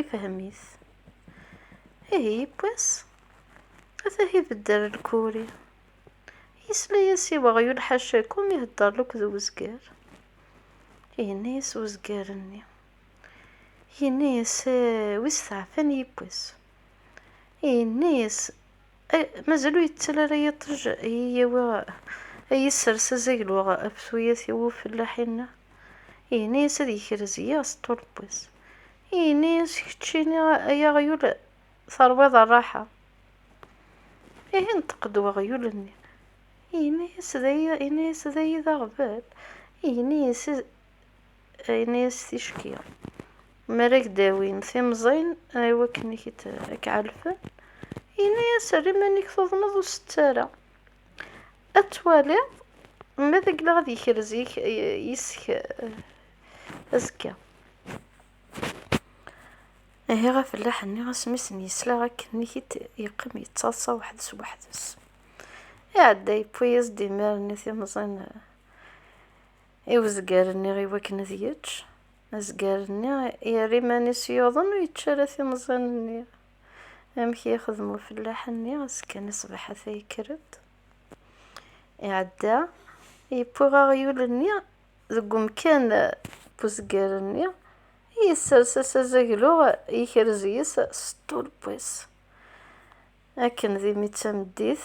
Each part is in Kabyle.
ifhem-it. Ihi yewwi-s, ata ibedder lkuri. Yesla-yas i weɣyul ḥacakum ihedder lukk d uzger. Yenna-yas uzger-nni. Yenna-yas, eh, wis teɛfan yewwi-s. Yenna-yas, Eh, mazal ur yettal ara yiṭij i yi-yawi a yi-ssers azaglu ɣef tuyat i wufellaḥ-inna. Yenna-yas ad yekrez yiɣ s ṭṭuleb-is. Yenna-yas, Keččini ay aɣyul terwiḍ rraḥa. Ihi yenṭeq-d weɣyul-nni. Yenna-yas, Yenna-yas, d ay d aɣbel. Yenna-yas, ayen i as-ticki. Mi ara ak-d-awin timẓin i wakken ad k-ɛelfen, yenna-as, err iman-ik tuḍneḍ ur sett ara. Ad twaliḍ ma ad ak-gleɣ ad yekrez yis-k azekka. Ihi afellaḥ-nni asmi i sen-yesla akken i k-id-yeqqim yettaḍsa weḥd-s weḥd-s, iɛedda yewwi-yas-d imir-nni timẓin. I uzgar-nni i wakken ad yečč, azgar-nni yerra iman-is yuḍen ur yečči ara timẓin-nni. Amek i yexdem ufellaḥ-nni, ass kan ṣṣbeḥ ata yekker-d, iɛedda, yewwi aɣyul-nni deg umkan n uzgar-nni, yessers-as azaglu, yekrez yes-s s ṭṭulbu-s. Akken d imi d tameddit,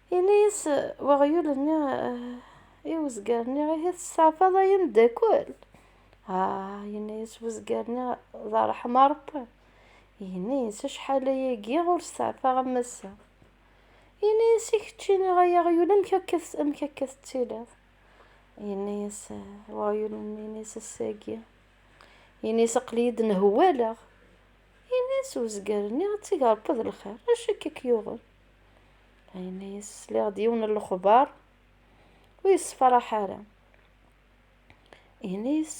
Yenna-yas weɣyul-nni i wezger-nni, ihi testeɛfaḍ ay ameddakel? Ah, yenna-yas wezger-nni, d ṛṛeḥma Ṛebbi. Yenna-yas, acḥal aya giɣ ur steɛfaɣ am ass-a. Yenna-yas, i kečči ay aɣyul, amek akka, amek akka tettiliḍ? Yenna-yas weɣyul-nni, yenna-yas ass-agi, yenna-yas aql-iyi-d nhewwaleɣ. Yenna-yas wezger-nni, ad teg Ṛebbi d lxir, acu akka k-yuɣen? ayen ay sliɣ d yiwen n lexbar ur yessefraḥ ara yenna-yas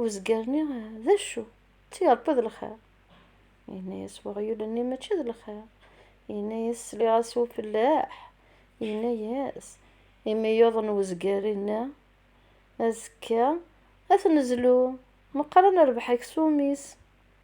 uzgar-nni d acu d tireṭṭi d lxir yenna-yas weɣyul-nni mačči d lxir yenna-yas sliɣ-as ufellaḥ yenna-yas imi yuḍen uzgar inna azekka ad t-nezlu meqqar ad nerbeḥ aksum-is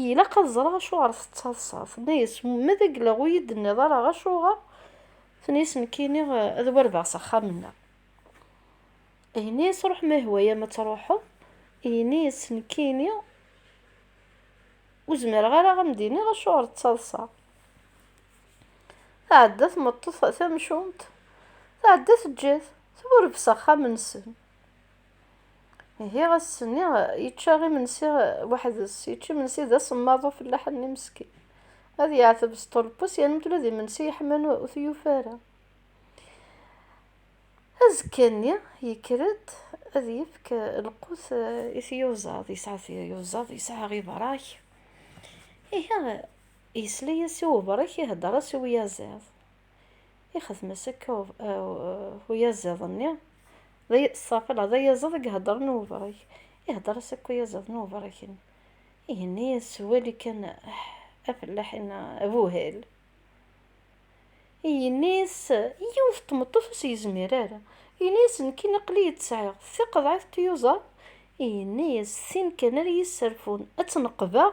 Ilaq ad ẓreɣ acuɣer tettaḍsaḍ. Tenna-yas, ma d aglaɣ ur yi-d-tenniḍ ara acuɣer? Tenna-yas, nekkini ad wardeɣ s axxam-nneɣ. Yenna-yas, ruḥ ma yehwa-yam ad truḥeḍ. Yenna-yas, nekkini ur zmireɣ ara ad am-d-iniɣ acuɣer ttaḍsaɣ. Tɛedda tmeṭṭut tamcumt, tɛedda teǧǧa-t, tburebs axxam-nsen. Ihi ass-nni yečča imensi weḥd-s, yečča imensi d asemmaḍ ufellaḥ-nni meskin. Ad yeɛteb s ṭulpus yernu ula d imensi yeḥman ur t-yufi ara. Azekka-nni yekker-d ad yefk lqut i tyuzaḍ, yesɛa tyuzaḍ, yesɛa ibrek. Ihi yesla-yas i ubrek ihedder-as i uyaziḍ. ixdem-as akka uyaziḍ-nni, ṣṣafel d ayaziḍ i iheddren i uberrak, ihedder-as akka uyaziḍ n uberrak-nni, ihenni-yas s wawal kan afellaḥ inna, Abuhal! Yenna-yas yiwet n tmeṭṭut ur s-yezmir ara, yenna-yas nekkini aql-iyi tt-sɛiɣ, d tiqeḍɛit n tyuẓaḍ, yenna-yas tin kan ara yi-sserfun ad tt-neqbeɣ.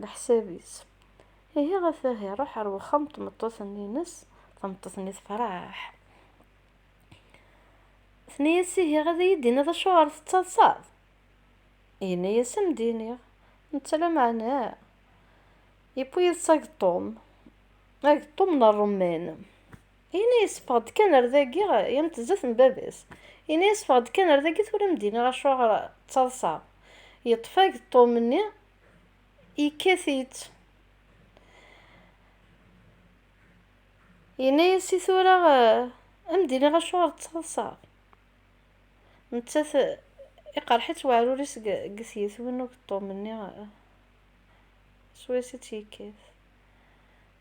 leḥsab-is. Ihi ɣef wahi iruḥ ar wexxam n tmeṭṭut-nni-ines, tameṭṭut-nni tefreḥ. Tenna-yas ihi ad iyi-d-tiniḍ acuɣer tettaḍsaḍ? Yenna-yas ad m-d-iniɣ, netta lameɛna yewwi yid-s ageṭṭum, ageṭṭum n ṛṛumman. Ini-as ffeɣ-d kan ar dagi, yant zdat n baba-s. Ini-as ffeɣ-d kan ar dagi tura m-d-iniɣ acuɣer ttaḍsaɣ. Yeṭṭef ageṭṭum-nni, yekkat-itt. Yenna-as i tura a m-d-iniɣ acuɣer ttaḍsaɣ. Nettat iqerreḥ-itt weɛrur-is deg tyetwin n ugeṭṭum-nni swayes i tt-yekkat.